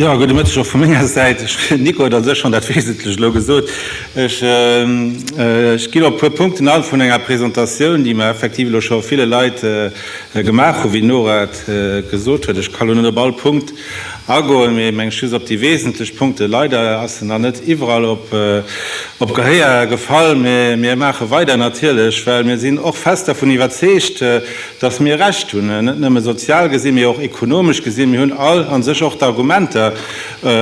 Ja gute Mëtteg och vu menger Säit. Nico huet an sech schonn dat Wesentlech elo gesot. Ech ginn op e puer Punkten an vun enger Presentatioun, déi mer effektiv elo scho ville Leit gemaach hunn, wéi d'Nora et gesot huet. Ech kann elo net op all Punkt Agoen, mee meng ech just op déi wesentlech Punkte. Leider ass se nach net iwwerall op Gehéier gefall, mee mir maache weider natierlech, well mir sinn och fest dervun iwwerzeegt, datt mir Recht hunn, net nëmme sozial gesi mee och ekonomesch gesi. Mir hunn all a sech och d'Argumenter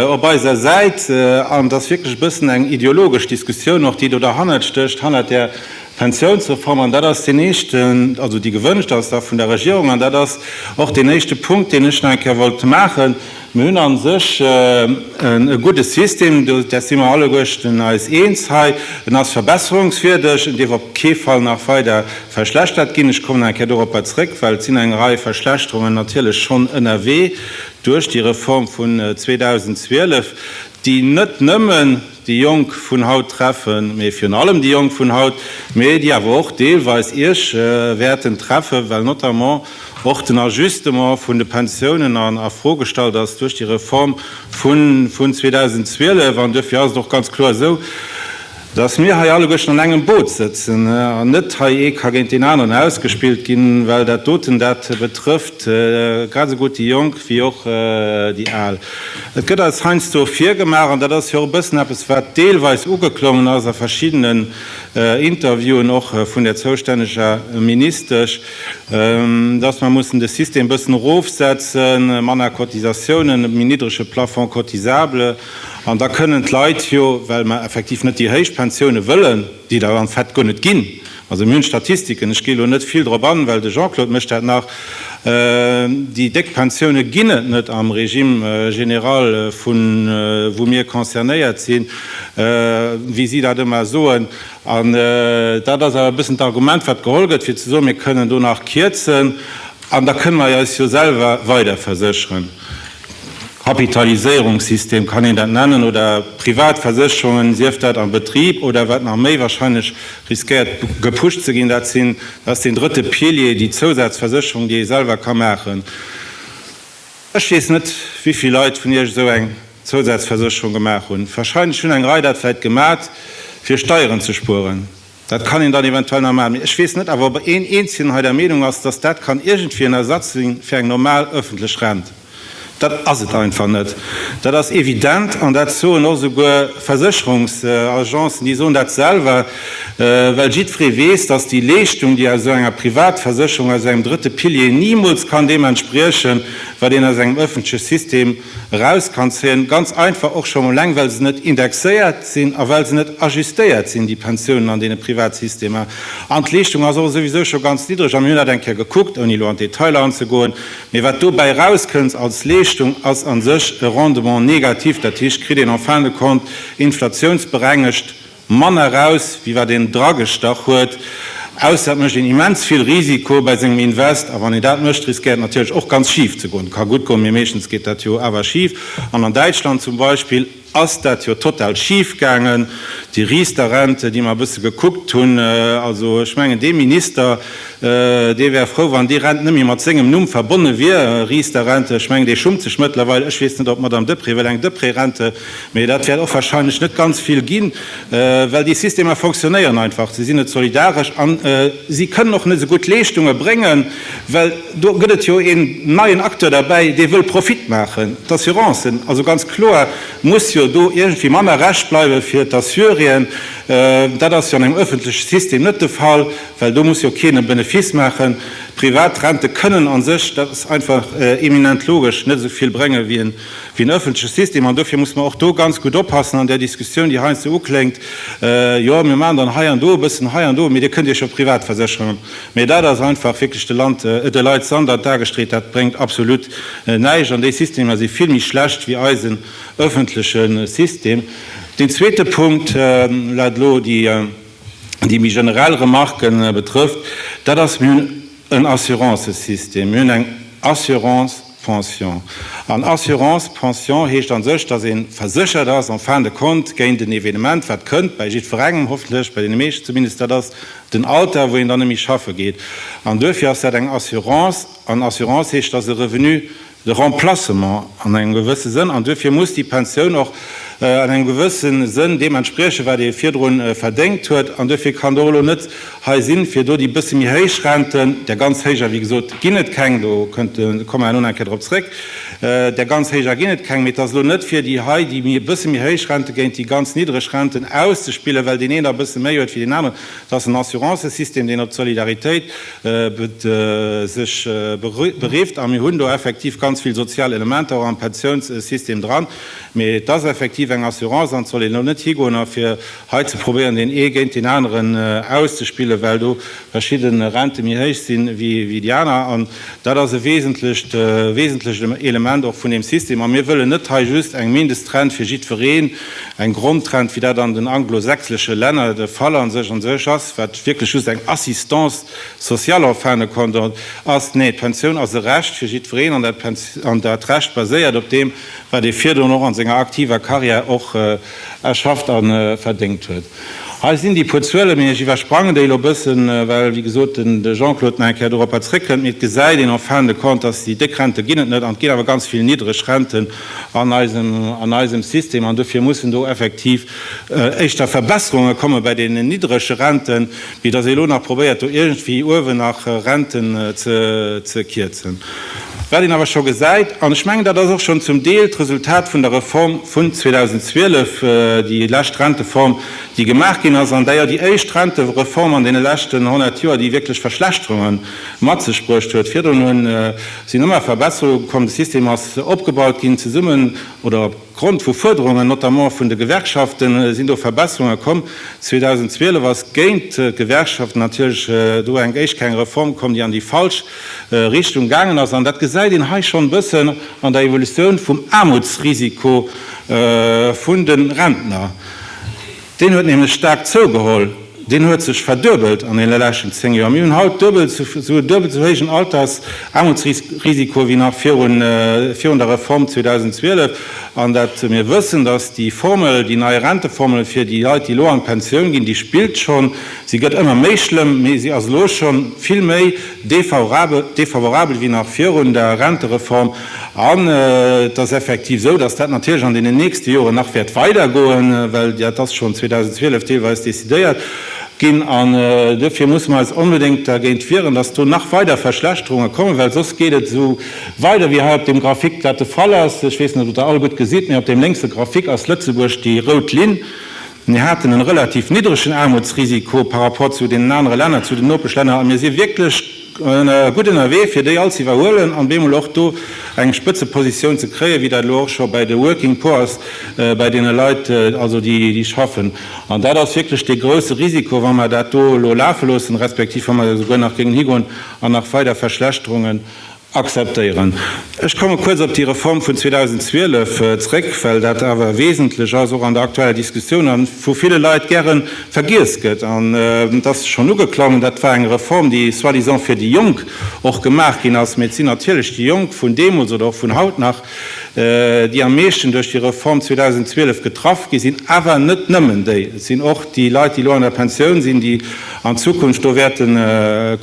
op eiser Säit an et ass wierklech e bëssen eng ideologesch Diskussioun och déi do derhannert stécht, hannert där D'Pensiounsreform, an dat ass deen éischten, also déi gewënscht ass da vun der Regierung, an dat ass och deen éischte Punkt, deen ech nach eng Kéier wollt maachen, mir hunn a sech e gudde System, dat si mer alleguechten eis eens hei, en ass verbesserungswierdeg, en dierf op kee Fall nach weider verschlechtert ginn. Ech kommen nach eng Kéier doropper zrëck, well et sinn eng Rei Verschlechterungen natierlech schonn ënnerwee duerch déi Reform vun 2012, déi net nëmmen, déi Jonk vun haut treffen, mee virun allem déi Jonk vun haut, mee déi awer och deelweis Iech wäerten treffen, well notamment och den Ajustement vun de Pensiounen a Fro gestallt ass duerch déi Reform vun 2012. An duerfir ass et och ganz kloer esou, dass mir hei alleguerten an engem Boot sëtzen an net hei ee ka géint deen aneren ausgespillt ginn, well dat doten, dat betrëfft grad esou gutt déi Jonk wéi och déi Al. Et gëtt eis heiansdo virgemaach, an dat ass jo och e bëssen eppes, wat deelweis ugeklongen ass a verschiddenen Interviewen, och vun där zoustänneger Ministesch, dass mer mussen de System e bëssen erofsetzen, manner Cotisatiounen, méi niddrege Plafond cotisable. An da kënnen d'Leit jo, well mer effektiv net déi héich Pensiounen wëllen, déi der en fait guer net ginn, Also mir hunn d'Statistiken, ech gi elo net vill drop an, well de Jean-Claude mécht dat nach, déi déck Pensioune ginn et net am Régime général vun wou mir concernéiert sinn, wéi si dat ëmmer soen. An dat ass awer e bëssen d'Argument wat geholl gëtt fir ze soen, mir kënnen do nach kierzen an da kënne mer eis jo selwer weider versécheren. Kapitaliséierungssystem kann een dat nennen oder Privatversécherungen, sief dat am Betrib oder wat nach méi wahrscheinlech riskéiert gepusht ze ginn, dat sinn, dat ass deen drëtte Pilier, déi Zousazversécherung, déi ee selwer ka maachen. Ech weess net, wéi vill Leit vun Iech esou eng Zousazversécherung gemaach hunn. Wahrscheinlech hunn eng Rei dat vläicht gemat, fir Steieren ze spueren. Dat kann een dann eventuell nach maachen. Mee ech weess net awer, ob een eenzelen hei der Meenung ass, dass dat kann iergendwéi en Ersatz sinn fir eng normal öffentlech Rent. Dat ass et einfach net. Dat ass evident an dat soen och esouguer Versécherungsagencen. Déi soen dat selwer, well jiddweree weess, datt déi Leeschtung, déi aus esou enger Privatversécherung, aus engem drëtte Pilier nimools kann deem entspriechen, wat een aus engem ëffentleche System eraus kann zéien. Ganz einfach och schonn eleng, well se net indexéiert sinn a well se net ajustéiert sinn, déi Pensiounen an deene Privatsystemer. An d'Leeschtung ass och esouwisou scho ganz niddreg. A mir hunn dat eng Kéier gekuckt, ouni elo an d'Detailer anzegoen, Mee wat dobäi erauskënnt als Leeschtung, ass a sech e Rendement négatif, dat heescht, kritt een en fin de compte inflatiounsberengegt manner eraus, wéi wat een dragestach huet, ausser et mécht een immens vill Risiko bei sengem Invest. A wann een dat mécht, riskéiert natierlech och ganz schif ze goen. Ka gutt goen, mee meeschtens geet dat jo awer schif. An an Däitschland zum Beispill. ass dat jo total schif gaangen, déi Riester Rente, déi mer e bësse gekuckt hunn. Also ech mengen, dee Minister, dee wär frou, wann déi Rent net méi mat sengem Numm verbonne wier, Riester Rente. Ech mengen, dee schummt sech mëttlerweil. Ech weess net, ob d'Madame Deprez wëll eng Deprez-Rente, mee dat wäert och warscheinlech net ganz vill ginn, well déi Systemer fonctionnéieren einfach, se sinn net solidaresch a si kënnen och net esou gutt Leeschtunge bréngen, Well do gëtt et jo een neien Acteur derbäi, dee wëll Profit maachen, d'Assurancen. Also ganz kloer muss jo do iergendwéi manner Recht bleiwe fir d'Assurien. Dat ass jo an engem ëffentleche System net de Fall, well do muss jo keen e Benefice maachen. Privat Rente kënnen a sech, dat ass einfach eminent logesch, net esou vill brénge wéi en ëffentleche System. An dofir muss mer och do ganz gutt oppassen an där Diskussioun, déi heiansdo ukléngt, Jo, mir maachen dann hei an do e bëssen, hei an do, mee Dir kënnt Iech jo privat versécheren. Mee dat ass einfach wierklech de Land, de Leit Sand an d'Ae gestreet. Dat bréngt absolut näischt an déi Systemer si vill méi schlecht wéi eisen ëffentleche System. Deen zweete Punkt, wat elo déi méi generell Remarque betrëfft, dat ass, Mir hunn en Assurancësystem, mir hunn eng Assurance, Pension. An Assurance pension heescht a sech, datt ee verséchert ass en fin de compte géint en Evenement, wat kënnt, bei jiddwerengem hoffentlech, bei deene meeschten zumindest, dat ass den Alter, wou een dann net méi schaffe geet. An duerfir ass dat eng Assurance. An Assurance heescht, datt e Revenu de remplacement an engem gewësse Sënn, an duerfir muss déi Pensioun och an engem gewësse Sënn deem entspriechen, wat ee virdrun verdéngt huet. An duerfir kann do elo net Hei sinn fir do déi bësse méi héich Renten. Där ganz héijer, wéi gesot, ginn et keng, do komme mer herno nach eng Kéier drop zréck, där ganz héijer ginn et keng, mee et ass elo net fir déi hei, déi méi e bësse méi héich Rente géint déi ganz niddreg Renten auszespillen, well deen een der e bësse méi huet wéi deen aneren. Et ass en Assurancësystem, deen op d'Solidaritéit sech berifft a mir hunn do effektiv ganz vill sozial Elementer och am Pensiounssystem dran, mee et ass effektiv eng Assurance an et soll een elo net higoen a fir Hei ze probéieren deen ee géint deen aneren auszespillen, well do verschidde Rente méi héich si wéi déi aner, an dat ass e wesentlecht wesentlecht Element och vun deem System. A mir wëllen net hei just eng Mindest-Rent fir jiddwereen, eng Grond-Rent, wéi dat an den anglo-sächsesche Länner de Fall an sech an sech ass, wat wierklech just eng Assistance sociale en fin de compte ass. Nee, d'Pensioun ass e Recht fir jiddwereen, an dat Recht baséiert op deem, wat ee virdrun och an senger aktiver Carrière och erschafft a verdéngt huet. Hei sinn déi puer Zuele, mee ech iwwersprangen déi elo e bëssen, well, wéi gesot, de Jean-Claude nach eng Kéier doropper zréckkënnt. Mee et gesäit een en fin de compte, dass déi déck Rente ginn et net an et ginn awer ganz vill niddreg Renten an eisem System. An dofir mussen do effektiv éischter Verbesserunge komme bei deenen niddrege Renten, Vue dass ee elo nach probéiert do iergendwéi uewen nach Renten ze kierzen, wat een awer scho gesäit, an ech mengen dat ass och schonn zum Deel d'Resultat vun der Reform vun 2012, déi lescht Renteform déi gemaach ginn ass, an d'ailleurs déi éischt Rentereform an deene leschten 100 Joer déi wierklech Verschlechterunge mat sech bruecht huet. Virdrun sinn ëmmer Verbesserunge komm, de System ass opgebaut ginn zesummen, oder, Grond vu Fuerderungen, notamment vun de Gewerkschaften, sinn do Verbesserunge komm. 2012 ass géint d'Gewerkschaften natierlech do eng éischt kleng Reform komm, déi an déi falsch Richtung gaangen ass. An dat gesäit een hei schonn e bëssen an der Evolutioun vum Aarmutsrisiko vun de Rentner. Deen huet nämlech staark zougeholl, deen huet sech verduebelt an deene leschten 10 Joer. Mir hunn haut duebel esou e duebelt esou héijen Altersaarmutsrisiko wéi nach virun der Reform 2012. An dat mir wëssen, dass déi Formel, déi nei Renteformel fir déi Leit, déi elo an d'Pensioun ginn, déi spillt schonn, se gëtt ëmmer méi schlëmm, mee se ass elo schonn vill méi défavorabel wéi nach virun der Rentereform. An et ass effektiv esou, dass dat natierlech an deenen nächste Joren nach wäert weidergoen, well dat ass schonn 2012 deelweis decidéiert ginn. An duerfir musse mer eis onbedéngt dergéint wieren, dass do nach weider Verschlechterunge kommen, well soss geet et esou weider wéi hei op deem Graphique dat de Fall ass. Ech weess net, ob Der dat all gutt gesitt, mee op deem lénkse Graphique ass Lëtzebuerg déi rout Linn. Mir haten e relativ niddregen Aarmutsrisiko par rapport zu deenen anere Länner, zu den Nopeschlänner, a mir si wierklech gutt ënnerwee, fir déi all ze iwwerhuelen an bemol och do eng Spëtzepositioun ze kréien, wéi dat elo och scho bei de Working Poor ass, bei deene Leit also, déi schaffen. An dat ass wierklech dee grouse Risiko, wa mer dat do elo lafe loossen, respektiv wa mer esouguer nach géingen higoen an nach weider Verschlechterungen Akzeptéieren. Ech komme kuerz op déi Reform vun 2012 zrëck, well dat awer wesentlech ass, och an der aktueller Diskussioun, a vu ville Leit gäre vergiess gëtt. An et ass schonn ugeklongen, Dat war eng Reform, déi soi-disant fir déi Jonk och gemaach ginn ass. Mee et sinn natierlech déi Jonk vun deemools oder och vun haut nach, déi am meeschten duerch déi Reform 2012 getraff gi sinn, awer net nëmmen déi, et sinn och déi Leit, déi elo an der Pensioun sinn, déi an Zukunft do wäerte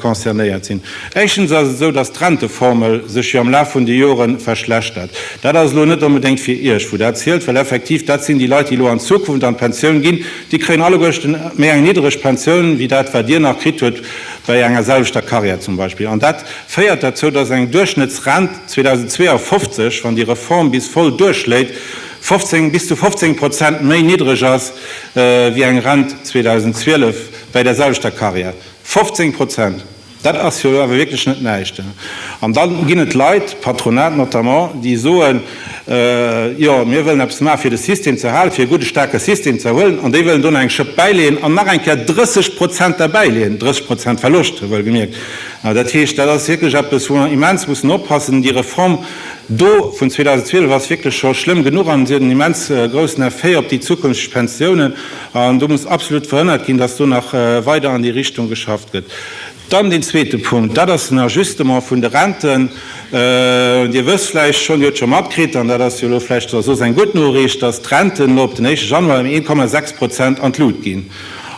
concernéiert sinn. Éischtens ass et esou, dass d'Renteformel sech jo am Laf vun de Jore verschlechtert. Dat ass elo net onbedéngt fir Iech, wou dat zielt, well effektiv dat sinn déi Leit, déi elo an Zukunft an d'Pensioun ginn, déi kréien alleguerten méi eng niddereg Pensioun wéi dat, wat Dir nach kritt hutt bei enger selwechter Karriär zum Beispill. féiert derzou, datt eng Duerchschnëttsrent 2052, wann déi Reform bis voll duerchschléit, 15, bis zu 15 Prozent méi niddreg ass wéi eng Rent 2012 bäi der selwechter Carrière. 15 Prozent, dat ass jo elo awer wierklech net näischt. An da ginn et Leit, d'Patronat notamment, déi soen, jo mir wëllen eppes maachen, fir de System ze erhalen, fir e gudde staarke System ze erhuelen, an déi wëllen do nach eng Schëpp bäileeën an nach eng Kéier 30 Prozent derbäileeën, 30 Prozent Verloscht, wouelgemierkt. Dat heescht, dat ass wierklech eppes, wou mer immens mussen oppassen. Déi Reform do vun 2012 ass wierklech scho schlëmm genuch an si huet en immens groussen Effet op déi zukünfteg Pensiounen. An do muss absolut verhënnert ginn, dass do nach weider an déi Richtung geschafft gëtt. Dann deen zweete Punkt, dat ass den Ajustement vun de Renten. Dir wësst vläicht schonn, Dir hutt scho matkritt, an dat ass jo elo vläicht soss eng gutt Noriicht, dass d'Renten elo op den éischte Januar ëm 1,6 Prozent an d'Lut ginn.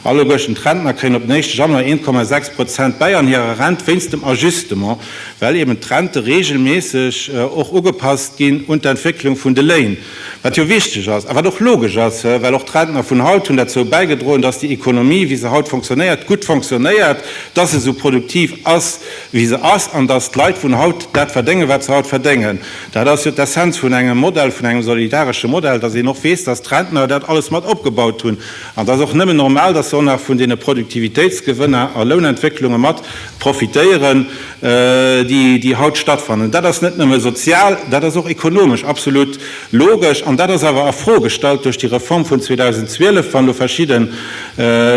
All uguechten d'Rentner kréien op den éischte Januar 1,6 Prozent bäi an hirer Rent wéinst dem Ajustement, well eben d'Rente reegelméisseg och ugepasst ginn un d'Entwécklung vun de Léin, wat jo wichteg ass a wat och logesch ass, well och d'Rentner vun haut hunn derzou bäigedroen, dass déi Ekonomie, wéi se haut fonctionnéiert, gutt fonctionnéiert, dass se esou produktiv ass, wéi se ass, an dass d'Leit vun haut dat verdéngen, wat se haut verdéngen. Dat ass jo d'Essenz vun engem Modell, vun engem solidaresche Modell, dass een och weess, dass d'Rentner dat alles mat opgebaut hunn. An et ass och nëmmen normal, dass se och nach vun deene Produktivitéitsgewënner a Lounentwécklunge mat profitéieren, déi haut stattfannen. Dat ass net nëmme sozial, dat ass och ekonomesch absolut logesch. An dat ass awer a Fro gestallt duerch déi Reform vun 2012, wann elo verschidde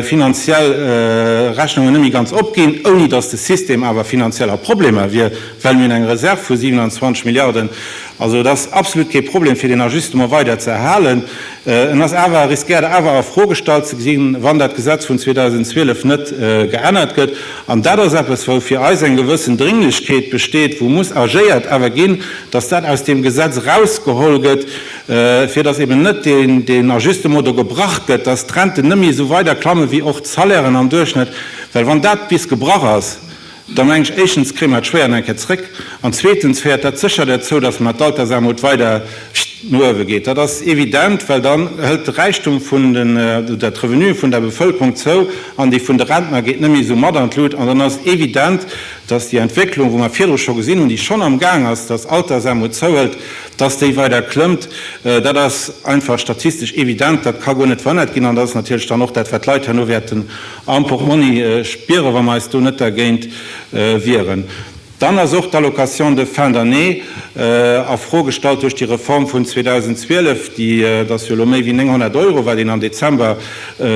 finanziell Rechnungen net méi ganz opginn, ouni dass de System awer finanziell a Problemer wier, well mir un eng Reserv vu 27 Milliarden Also et ass absolut kee Problem fir deen Ajustement weider ze erhalen. En ass awer, riskéiert awer a Fro gestallt ze ginn, wann dat Gesetz vun 2012 net geännert gëtt. An dat ass eppes, wou fir eis eng gewëssen Drénglechkeet besteet, wou muss agéiert awer ginn, dass dat aus deem Gesetz erausgeholl gëtt, fir dass eben net deen Ajustement do gebrach gëtt, dass d'Renten net méi esou weider klammen wéi och d'Salairen am Duerchschnëtt. Well wann dat bis gebrach ass, da meng ech, éischtens kréie mer et schwéier an eng Kéier zréck, an zweetens féiert dat sécher derzou, dass mer d'Altersarmut weider no uewe geet. Dat ass evident, well dann hëlt de Räichtum vun den, oder d'Revenue vun der Bevëlkerung zou an déi vun de Rentner geet net méi esou mat an d'Lut. An dann ass et evident, dass déi Entwécklung, wou mer virdru scho gesinn hunn, déi schonn am Gaang ass, dass Altersarmut zouhëlt, dass déi weider klëmmt. Dat ass einfach statistesch evident, dat ka guer net verhënnert ginn an dat ass natierlech dann och dat, wat d'Leit herno wäerten am Portmonni spieren, wa mer eis do net dergéint wieren. Dann ass och d'Allocation de fin d'année a Fro gestallt duerch déi Reform vun 2012. Déi ass jo elo méi wéi 900 Euro, wat een am Dezember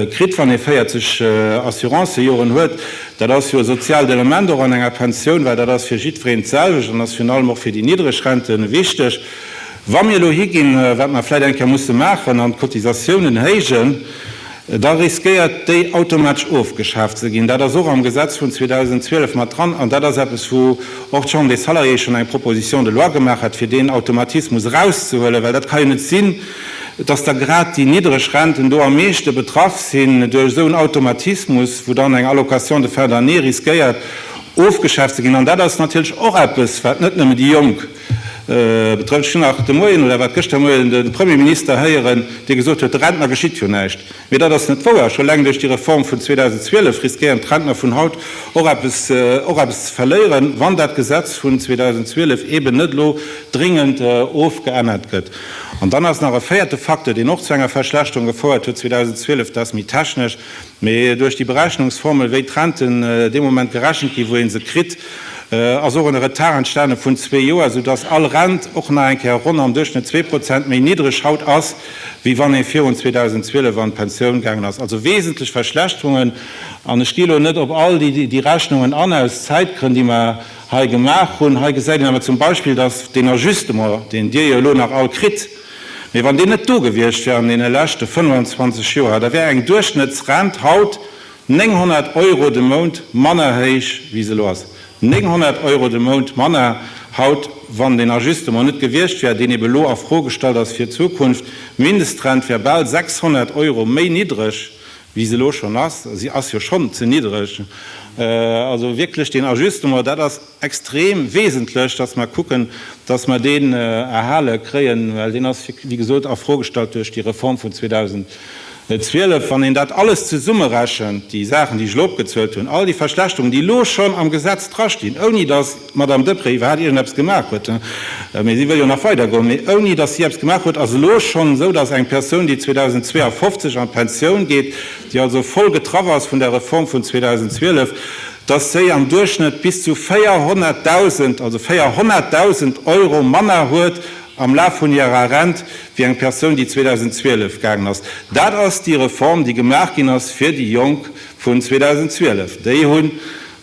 kritt, wann ee 40 Assurancejoren huet. Dat ass jo e soziaalt Element och an enger Pensioun, well dat ass fir jiddwereen d'selwecht an ass virun allem och fir déi niddreg Rente wichteg. Wa mir elo higinn, wat mer vläicht eng Kéier musse maachen an d'Cotisatiounen héijen, da riskéiert déi automatesch ofgeschaaft ze ginn. Dat ass och am Gesetz vun 2012 mat dran an dat ass eppes, wou och d'Chambre des Salariés schonn eng Proposition de loi gemaach hat, fir deen Automatismus erauszehuelen, well dat ka jo net sinn, dass da grad déi niddreg Renten do am meeschte betraff sinn duerch esou en Automatismus, wou dann eng Allocation de fin d'année riskéiert ofgeschaaft ze ginn. An dat ass natierlech och eppes, wat net nëmme déi Jonk. Betrëfft, ech hunn nach de Moien, oder war et gëschter Moien, de Premierminister héieren, dee gesot huet, de Rentner geschitt jo näischt. Mee dat ass net wouer. Scho eleng duerch déi Reform vun 2012 riskéieren d'Rentner vun haut och eppes, och eppes ze verléieren, wann dat Gesetz vun 2012 eeben net elo dringend ofgeännert gëtt. An dann ass nach e véierte Facteur, deen och zu enger Verschlechterung gefouert huet 2012, dat ass méi technesch, Mee duerch déi Berechnungsformel, wéi d'Renten dee Moment gerechent ginn, wou ee se kritt, ass och en Retard entstane vun zwee Joer, soudass all Rent och nach eng Kéier ronn am Duerchschnëtt zwee Prozent méi niddreg haut ass, wéi wann ee virun 2012 an d'Pensioun gaangen ass. Also wesentlech Verschlechterungen. An ech gi elo net op all déi Rechnungen an, aus Zäitgrënn, déi mer hei gemaach hunn. Hei gesäit een awer zum Beispill, dass deen Ajustement, deen Dir jo elo nach all kritt, Mee wann deen net do gewiescht wär an deene leschte 25 Joer, da wär eng Duerchschnëttsrent haut 900 Euro de Mount manner héich, wéi se elo ass. 900 Euro de Mount manner haut, wann deen Ajustement net gewiescht wär, deen ebe elo a Fro gestallt ass fir d'Zukunft. D'Mindestrent wär bal 600 Euro méi niddreg, wéi se elo schonn ass. Si ass jo schonn ze niddreg. Also wierklech, deen Ajustement, dat ass. extrem wesentlech, dass mer kucken, dass mer deen erhale kréien, well deen ass, wéi gesot, a Fro gestallt duerch déi Reform vun 2012. Wann een dat alles zesummerechent, déi Saachen, déi ech elo opgezuelt hunn, all déi Verschlechterungen, déi elo schonn am Gesetz drastinn, ouni dass d'Madame Deprez iwwerhaapt iergendeppes gemaach huet, mee si wëll jo nach weidergoen, mee ouni dass si eppes gemaach huet, ass elo schonn esou, dass eng Persoun, déi 2052 an d'Pensioun geet, déi also voll getraff ass vun der Reform vun 2012, dass si am Duerchschnëtt bis zu 400.000, also 400.000 Euro manner huet am Laf vun hirer Rent, wéi eng Persoun, déi 2012 gaangen ass. Dat ass déi Reform, déi gemaach ginn ass fir déi Jonk vun 2012. Déi hu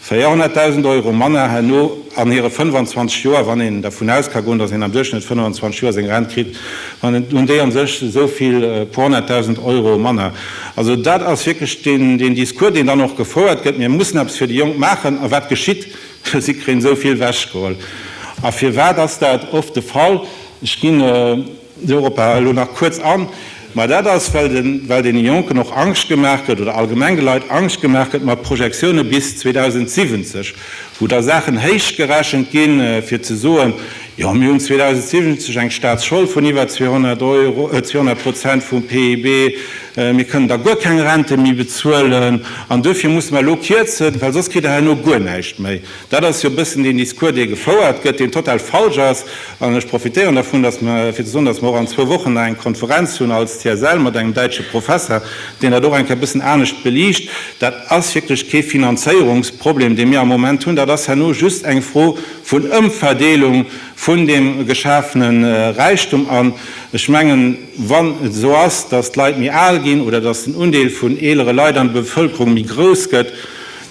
400.000 Euro manner herno an hire 25 Joer, wann een dervun aus ka goen, dass een am Duerchschnëtt 25 Joer seng Rent kritt, hunn déi a sech esou vill, e puer honnerttausend Euro manner. Also dat ass wierklech deen Discours, deen dann och gefouert gëtt, mir mussen eppes fir déi Jonk maachen. A wat geschitt? Si kréien esou vill wechgeholl. A firwat ass dat oft de Fall? Ech ginn dorop elo nach kuerz an. Mä dat ass, well deene Jonken och Angscht gemaach gëtt oder allgemeng de Leit Angscht gemaach gëtt mat Projektione bis 2070, wou da Saachen héich gerechent ginn, fir ze soen, Jo, mir hunn 2070 eng Staatsschold vun iwwer 200 Euro, 200 Prozent vum PIB. Mir kënnen da guer keng Rente méi bezuelen. An duerfir musse mer elo kierzen, well soss kritt Der herno guer näischt méi. Dat ass jo e bëssen deen Discours, dee gefouert gëtt, deen total falsch ass. An ech profitéieren dervun, datt mer, fir ze soen, datt mer och an zwou Wochen nach eng Konferenz hunn als CSL mat engem däitsche Professer, deen dat och eng Kéier e bëssen anescht beliicht. Dat ass wierklech kee Finanzéierungsproblem, dee mir am Moment hunn. Dat ass herno just eng Fro vun Ëmverdeelung vun deem geschafene Räichtum an, ech mengen, wann et esou ass, datt d'Leit méi al ginn oder datt den Undeel vun eelere Leit an der Bevëlkerung méi grouss gëtt,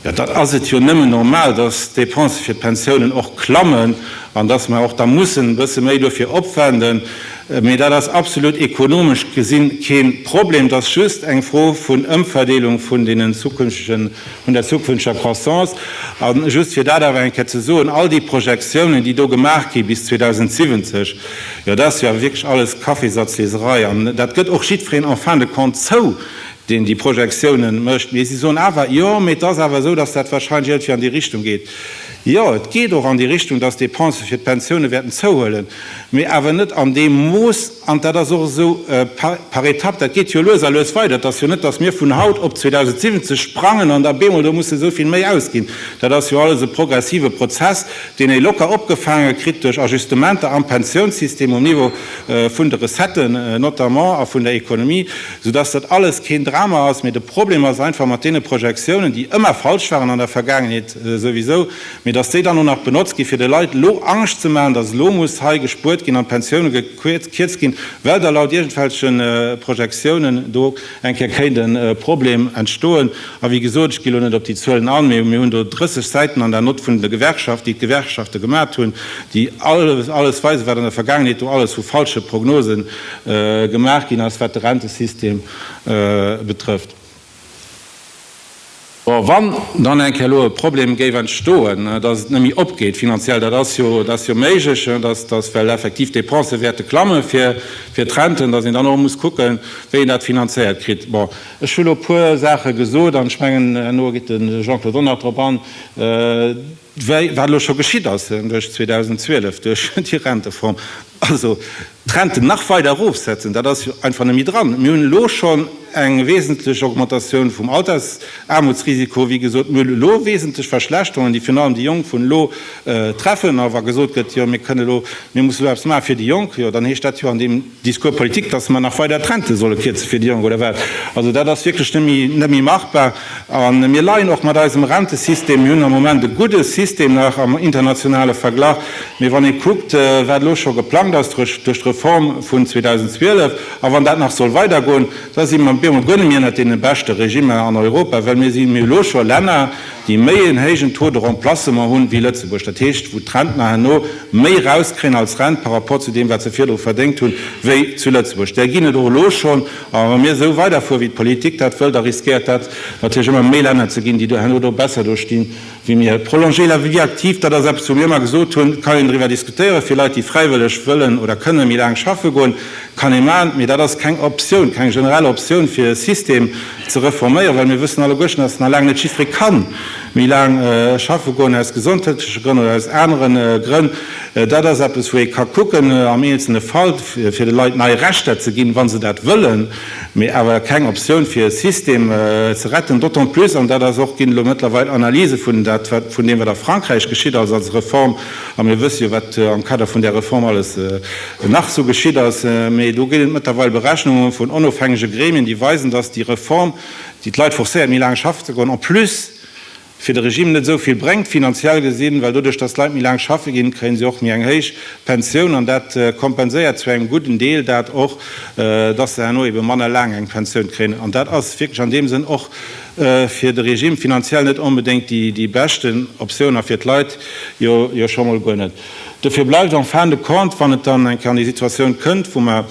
jo, dann ass et jo nëmmen normal, datt d'Depensë fir d'Pensiounen och klammen an datt mer och da mussen e bësse méi dofir opwenden. Mee dat ass absolut ekonomesch gesi kee Problem, et ass just eng Fro vun Ëmverdeelung vun deenen zukünftegen vun der zukünfteger Croissance. A just fir dat awer eng Kéier ze soen, all déi Projektiounen, déi do gemaach gi bis 2070, jo, dat ass jo awer wierklech alles Kaffisazleserei. An dat gëtt och jiddwereen en fin de compte zou, deen déi Projektiounen mécht. Mee si soen awer, jo, mee et ass awer esou, datt dat warscheinlech iergendwéi an déi Richtung geet. Jo, et geet och an déi Richtung, datt d'Depensë fir d'Pensioune wäerten zouhuelen, mee awer net an deem Mooss, An dat ass och esou par étapes, dat geet jo lues a lues weider. Et ass jo net, dass mir vun haut op 2070 sprangen an da bemol do musse esou vill méi ausginn. Dat ass jo alles e progressive Prozess, deen ee locker opgefaange kritt duerch Ajustementer am Pensiounssystem, um Niveau vun de Recetten notamment a vun der Economie, soudass dat alles keen Drama ass. Mee de Problem ass einfach mat deene Projektiounen, déi ëmmer falsch waren an der Vergaangenheet souwisou, Mee datt déi dann och nach benotzt ginn, fir de Leit elo Angscht ze maachen, datt elo muss hei gespuert ginn an d'Pensioune gekierzt ginn, well da laut iergendwelche Projektiounen do eng Kéier kéint e Problem entstoen. A wéi gesot, ech gi elo net op déi Zuelen an, mee mir hunn do 30 Säiten an der Nott vun de Gewerkschaft, déi d'Gewerkschafte gemat hunn, déi alles weisen, wat an der Vergaangenheet do alles vu falsche Prognose gemaach ginn ass, wat de Rentesystem betrëfft. Bon, wann dann eng Kéier elo e Problem géif entstoen, dass et net méi opgeet finanziell, dat ass jo, dat ass jo méiglech, dass, dass well effektiv d'Dépense wäerte klamme fir, fir d'Renten, dass een dann och muss kucken, wéi een dat finanzéiert kritt. Bon, ech hu lo e puer Saache gesot an ech mengen herno geet de Jean-Claude Donner drop an. Wéi wat elo scho geschitt ass, duerch 2012, duerch déi Rentereform, also d'Renten nach weider erofsetzen, dat ass jo einfach net méi dran. Mir hunn elo schonn eng wesentlech Augmentatioun vum Altersaarmutsrisiko, wéi gesot, mir hunn elo wesentlech Verschlechterungen, déi virun allem déi Jonk vun elo treffen. A wa gesot gëtt, jo mir kënnen elo, mir mussen elo eppes maachen fir déi Jonk, jo dann heescht dat jo an deem. Discours politique, dass mer nach weider d'Rente solle kierze fir déi Jonk, oder wat? Also dat ass wierklech net méi, net méi machbar. A mir leien och mat eisem Rentesystem. Mir hunn am Moment e gudde System nach am internationale Verglach. Mee wann ee kuckt, wat elo scho geplangt ass duerch d'Reform vun 2012, a wann dat nach soll weidergoen, da si mer bemol guer net méi ënnert deene beschte Regimmer an Europa, well mir si méi elo scho Länner, déi méi en héijen Taux de remplacement hunn, wéi Lëtzebuerg. Dat heescht, wou d'Rentner herno méi erauskréien als Rent par rapport zu deem, wat se virdru verdéngt hunn, wéi zu Lëtzebuerg. Där ginn et och elo schonn. A wa mir esou weiderfuere wéi d'Politik dat wëll, da riskéiert dat natierlech ëmmer méi Länner ze ginn, déi do herno do besser do sti wéi mir. Prolonger la vie active, dat ass eppes wou mir ëmmer gesot hunn, et kann een driwwer diskutéieren. Fir Leit déi fräiwëlleg wëllen oder kënne méi laang schaffe goen, kann ee maachen. Mee dat ass keng Optioun, keng generell Optioun fir e System ze reforméieren, well mir wëssen alleguerten, dass et nach laang net jiddweree ka méi laang schaffe goen, aus gesondheetleche Grënn oder aus anere Grënn. Dat ass eppes, wou ee ka kucken am eenzelne Fall, fir de Leit nei Rechter ze ginn, wa se dat wëllen, mee awer keng Optioun, fir e System ze retten. D'autant plus, an dat ass och, ginn elo mëttlerweil Analyse vun dat, wat vun deem, wat a Frankräich geschitt ass als Reform, a mir wësse jo, wat am Kader vun där Reform alles nach esou geschitt ass, mee do ginn et mëttlerweil Berechnunge vun onofhängege Gremien, déi weisen, dass déi Reform, déi d'Leit forcéiert, méi laang schaffen ze goen, en plus fir de Regime net esou vill bréngt, finanziell gesinn, well doduerch, dass d'Leit méi laang schaffe ginn, kréie se och méi eng héich Pensioun an dat kompenséiert zu engem gudden Deel dat och, dass se herno ebe manner laang eng Pensioun kréien. An dat ass wierklech an deem Sënn och fir de Regime finanziell net onbedéngt déi beschten Optioun a fir d'Leit jo scho mol guer net. Dofir bleift en fin de compte, wann et dann eng Kéier an déi Situatioun kënnt, wou mer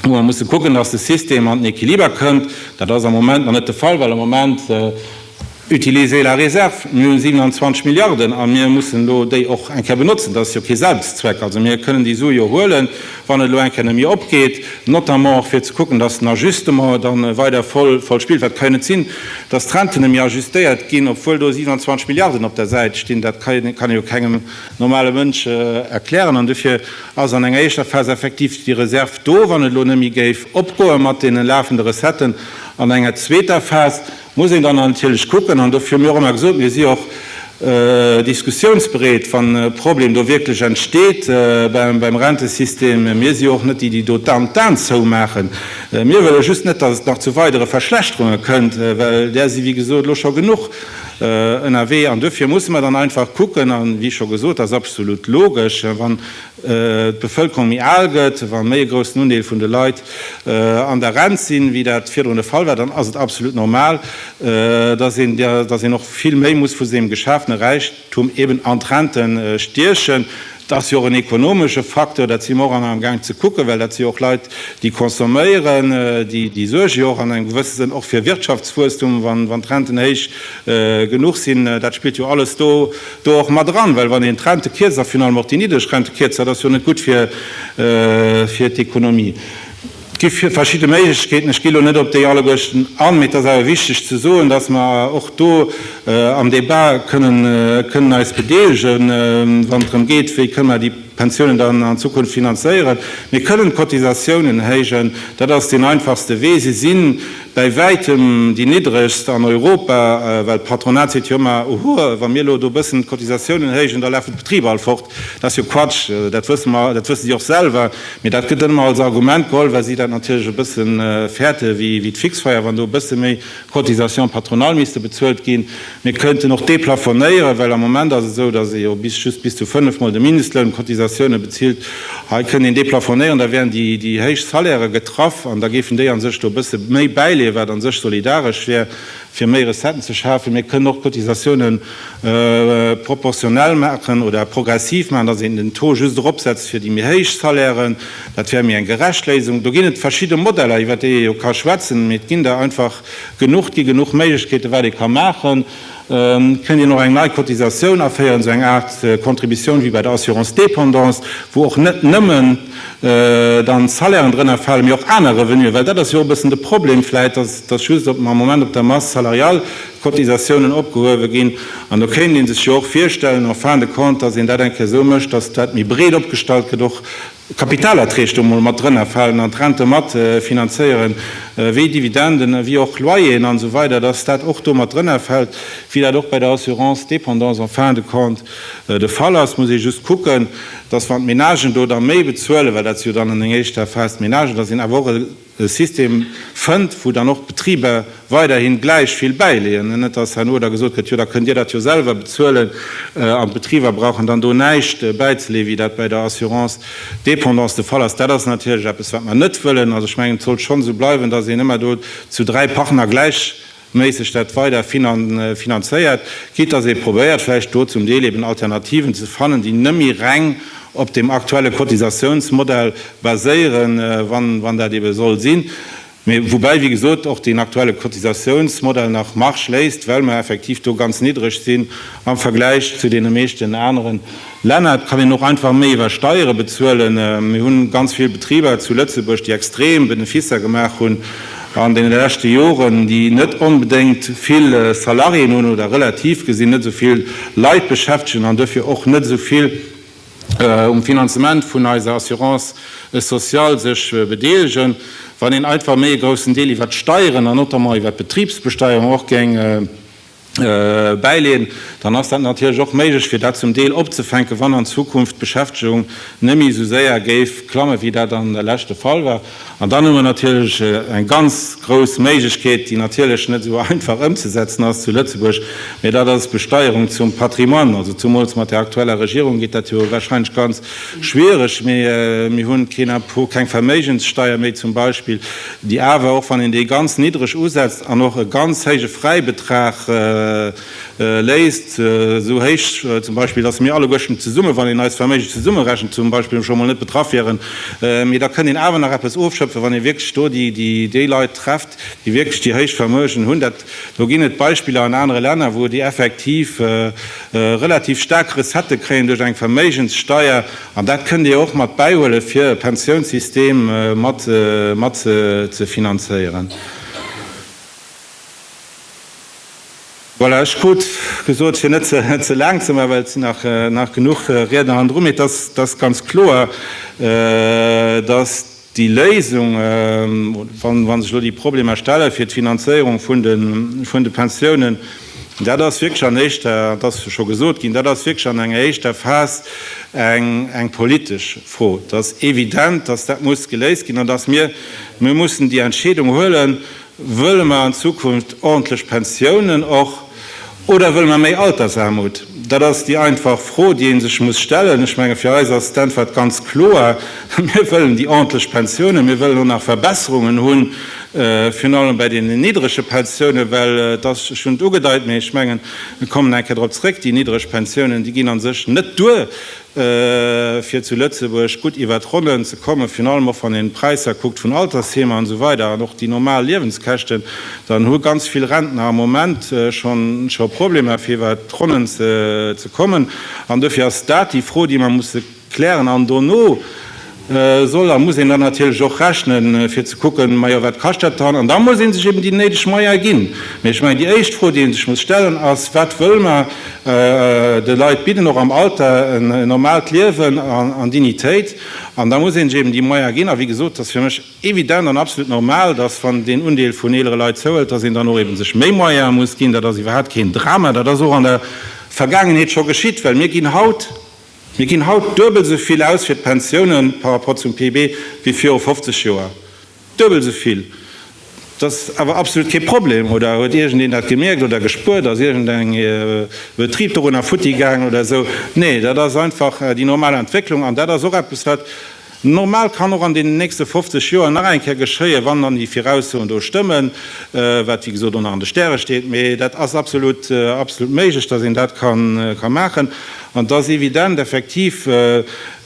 musse kucken, dass de System an den Equiliber kënnt, dat ass am Moment nach net de Fall, well am Moment utilisez la réserve, mir hu 27 Milliarden a mir mussen elo déi och eng Kéier benotzen, dat ass jo kee Selbstzweck. Also mir kënnen déi Sue jo huelen. wann et elo eng Kéier net méi opgeet, notamment och fir ze kucken, dass den Ajustement dann weider voll voll spillt, wat kann jo net sinn, dass d'Renten net méi ajustéiert ginn, obwuel do 27 Milliarden op der Säit stinn, dat kann jo kann jo kengem normale Mënsch erklären. An dofir ass an enger éischter Phas effektiv déi Reserv do, wann et elo net méi géif opgoe mat deene lafende Recetten, an enger zweeter Phas Muss een dann natierlech kucken, an dofir hu mir och ëmmer gesot, mir si och diskussiounsbereet, wann e Problem do wierklech entsteet beim Rentesystem. Mir si jo och net déi, déi do d'An zoumaachen. Mir wëlle just net, datt et nach zu weidere Verschlechterunge kënnt, well där si wéi gesot elo scho genuch ënnerwee. An dofir musse mer dann einfach kucken, a wéi scho gesot, dat ass absolut logesch, wann d'Bevëlkerung méi al gëtt, wa méi e groussen Undeel vun de Leit an der Rent sinn, wéi dat virdrun de Fall war, dann ass et absolut normal, dass een, dass een och vill méi muss vu sengem geschafene Räichtum eben an d'Rente stiechen. Et ass jo och en ekonomesche Facteur, dat si mer och an am Gaang ze kucken, well dat si jo och Leit, déi consomméieren, déi, déi suerge jo och an engem gewësse Sënn och fir Wirtschaftswuesstum, wann, wann d'Renten héich Genuch sinn, dat spillt jo alles do och mat eran. Well wann een d'Rente kierzt, a finalement och déi niddreg Rente kierzt, dat ass jo net gutt fir d'Ekonomie. Et gi verschidde Méiglechkeeten, ech gi elo net op déi alleguerten an. Mee et ass awer wichteg ze soen, dass mer och do am Débat kënnen eis bedeelegen, wann et drëm geet, wéi kënnen mer déi Pensiounen dann an Zukunft finanzéieren. Mir kënnen d'Cotisatiounen héijen, dat ass deen einfachste Wee. Si sinn bäi wäitem déi niddregst an Europa, well d'Patronat seet jo ëmmer, oho, wa mir elo do e bëssen d'Cotisatiounen héijen, da lafen d'Betriber all fort. Dat ass jo Quatsch, dat wësse mer, dat wësse si och selwer, mee dat gëtt dann ëmmer als Argument geholl, well si dat natierlech e bësse fäerte wéi d'Fixfeier, wann do e bësse méi Cotisations patronales misste bezuelt ginn. Mir kënnten och deplafonéieren, well am Moment ass et esou, dass ee jo bis just bis zu fënnef Mol de Mindestloun Cotisatiounen bezilt. Hei kënnt een deplafonéieren, da wären déi déi héich Salairë getraff an da géifen déi a sech do e bësse méi bäileeën, wat a sech solidaresch wär, fir méi Recetten ze schafen. Mir kënnen och d'Cotisatiounen proportionell maachen oder progressiv maachen, dass een den Taux just eropsetzt fir déi méi héich Salairen. Dat wär méi eng gerecht Léisung. Do ginn et verschidde Modeller, iwwert déi ee jo ka schwätzen, mee et ginn der einfach Genuch gi genuch Méiglechkeete wat ee ka maachen. Kënnt een och eng nei Cotisatioun aféieren, esou eng Aart Contributioun wéi bei der Assurance dépendance, wou och net nëmmen dann d'Salairen drënner falen, mee och aner Revenuen? Well dat ass jo och e bëssen de Problem vläicht, datt just am Moment op der Masse salariale d'Cotisatiounen opgehuewe ginn. An do kéint ee sech jo och virstellen en fin de compte, datt een dat eng Kéier esou mécht, datt dat méi breet opgestallt gëtt, och Kapitalerträg do mol mat drënnerfalen an d'Rente mat finanzéieren, wéi Dividenden, wéi och Loyeren an esou weider, dass dat och do mat drënnerfält, wéi dat och bei der Assurance dépendance en fin de compte de Fall ass, muss ee just kucken, dass wann d'Ménagen do da méi bezuelen, well dat si jo dann an enger éischter Phas d'Ménagen, dass een awer och e e System fënnt, wou dann och d'Betriber weiderhi gläich vill bäileeën, an net dass herno da gesot gëtt, jo da kënnt Dir dat jo selwer bezuelen, an d'Betriber brauchen dann do näischt bäizeleeën, wéi dat bäi der Assurance dépendance de Fall ass. Dat ass natierlech eppes, wat mer net wëllen. Also ech mengen, et sollt schonn esou bleiwen, dass een ëmmer do zu dräi Partner gläich, Méisseg dat weider finanzéiert gitt, dass ee probéiert vläicht do zum Deel eben Alternativen ze fannen, déi nëmmi reng op deem aktuelle Cotisatiounsmodell baséieren, wann dat ebe soll sinn, mä woubäi, wéi gesot, och deen aktuelle Cotisatiounsmodell nach Marge léisst, well mer effektiv do ganz niddreg sinn am Vergläich zu deene meeschten aneren. Lennart, Kann een och einfach méi iwwer Steiere bezuelen? Mir hu ganz vill Betriber zu Lëtzebuerg, déi extrem Beneficer gemaach hunn an deene leschte Joren, déi net onbedéngt vill Salariéen hunn oder relativ gesinn net esou vill Leit beschäftegen an duerfir och net esou vill um Finanzement vun eiser Assurance sociale sech bedeelegen. Wann een einfach méi e groussen Deel iwwer d'Steieren an notamment iwwer d'Betribsbesteierung och géing bäileeën, dann ass dat natierlech och méiglech, fir dat zum Deel opzefänken, wann an Zukunft d'Beschäftegung net méi esou séier géif klammen, wéi dat an der Lech de Fall war. An dann hu mer natierlech eng ganz grouss Méiglechkeet, déi natierlech net esou einfach ëmzesetzen ass zu Lëtzebuerg, mä dat ass d'Besteierung zum Patrimoine. Also zumools mat där aktueller Regierung geet dat jo wahrscheinlech ganz Schwiereg, mee mir hunn keen Impôt, keng Verméigenssteier méi zum Beispill, déi awer, och wann een déi ganz niddreg usetzt an och e ganz héije Fräibetrag léisst, esou héich zum Beispill, dass mir alleguerten zesummen, wann een eist Verméigen zesummerechent, zum Beispill scho mol net betraff wieren. Mee da kënnt een awer nach eppes ofschëpfen, wann ee wierklech do déi Leit trefft, déi wierklech déi héich Vermögen hunn. Do ginn et Beispiller an anere Länner, wou déi effektiv relativ staark Recettë kréien duerch eng Verméigenssteuer. An dat kënnt Dir och mat bäihuelen, fir e Pensiounssystem mat ze finanzéieren. Voilà, ech krut gesot, fir net ze laang ze maachen, well et sinn nach genuch Riedner hannendru. Mee et ass ganz kloer, dass Déi Léisung, wa sech elo déi Problemer stelle fir d'Finanzéierung vun de Pensiounen, dat ass wierklech an éischter, dat ass scho gesot ginn, dat ass wierklech an enger éischter Phas eng politesch Fro. Et ass evident, datt dat muss geléist ginn an datt mir mussen déi Entscheedung huelen, Wëlle mer an Zukunft ordentlech Pensiounen och oder wëlle mer méi Altersarmut? Dat ass déi einfach Fro, déi ee sech muss stellen. Ech menge fir eis ass d'Äntwert ganz kloer, Mir wëllen déi ordentlech Pensiounen. Mir wëllen och nach Verbesserungen hu virun allem bei deenen niddrege Pensiounen, well et ass, ech hunn et ugedeit, mee ech mengen, ech kommen nach eng Kéier drop zrëck, déi niddreg Pensiounen, déi ginn a sech net duer. fir zu Lëtzebuerg gutt iwwert d'Ronnen ze kommen, virun allem och wann een d'Präisser kuckt vun Altersheemer an esou weider an och déi normal Liewenskäschten, dann hu ganz vill Rentner am Moment schonn scho Problemer fir iwwert d'Ronnen ze kommen. An dofir ass dat déi Fro déi mer musse klären an dono, soll a muss een dann natierlech och rechnen, fir ze kucken, majo, wat kascht dat dann? An da muss ee sech eben déi néideg Moyene ginn. Mee ech mengen, déi éischt Fro, déi ee sech muss stellen, ass, Wat wëlle mer de Leit bidden, och am Alter, en normaalt Liewen an Dignitéit? An da muss ee sech eben déi Moyene ginn. A wéi gesot, et ass fir mech evident an absolut normal, dass, wann deen Undeel vun eelere Leit zouhëlt, dass een dann och eben sech méi Moyene muss ginn. Dat ass iwwerhaapt keen Drama. Dat ass och an der Vergaangenheet scho geschitt, well mir ginn haut, Mir ginn haut duebel esou vill aus fir d'Pensioune par rapport zum PIB wéi viru 50 Joer. Duebel esou vill! Dat ass awer absolut kee Problem. Oder huet iergendeen dat gemierkt oder gespuert? Ass iergendeng Betrib dorunner futti gaangen oder esou? Nee, dat ass einfach déi normal Entwécklung. An dat ass och eppes, wat Normal kann och an deenen nächste 50 Joer nach eng Kéier geschéien, wann dann déi Viraussoen do stëmmen, wat wéi gesot och nach an de Stäre steet, mee dat ass absolut, absolut méiglech, dass een dat ka maachen. An et ass evident effektiv,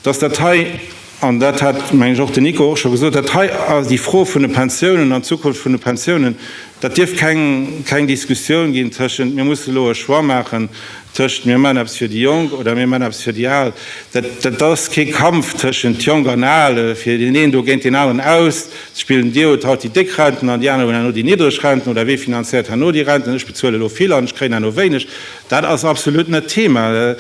dass dat hei, an dat hat, mengen ech, och den Nico och scho gesot, dat hei, déi Fro vun de Pensiounen an d'Zukunft vun de Pensiounen, Dat dierf keng keng Diskussioun ginn tëschent mir musse elo e Choix maachen tëschent mir maachen eppes fir déi Jonk oder mir maachen eppes fir déi Al. Dat dat ass kee Kampf tëschent Jonk an Al, fir deen een do géint deen aneren auszuspillen. Dir hutt haut déi déck Renten an déi aner hunn herno déi niddreg Renten oder wee finanziert herno déi Renten. Ech bezuele elo vill an ech kréien herno wéineg. Dat ass absolut net d'Thema.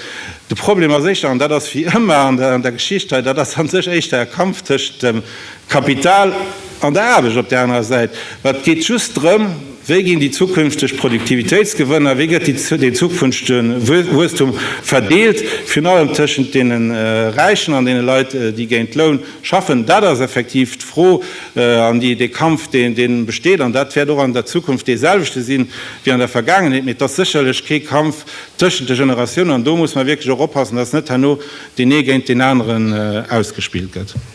De Problem ass éischter, an dat ass wéi ëmmer an der an der Geschicht hei, dat ass a sech éischter e Kampf tëschent dem Kapital an der Aarbecht op där anerer Säit. Ma et geet just drëm, Wéi ginn déi zukünfteg Produktivitéitsgewënner, wéi gëtt dee zukünftege Wuesstum verdeelt, virun allem tëschent deene Räichen an deene Leit, déi géint Loun schaffen? Dat ass effektiv d'Fro an dee Kampf, dee besteet. An dat wäert och an der Zukunft dee selwechte si wéi an der Vergaangenheet. Mee et ass sécherlech kee Kampf tëschent de Generatiounen. An do muss mer wierklech och oppassen, dass net herno deen ee géint deen aneren ausgespillt gëtt.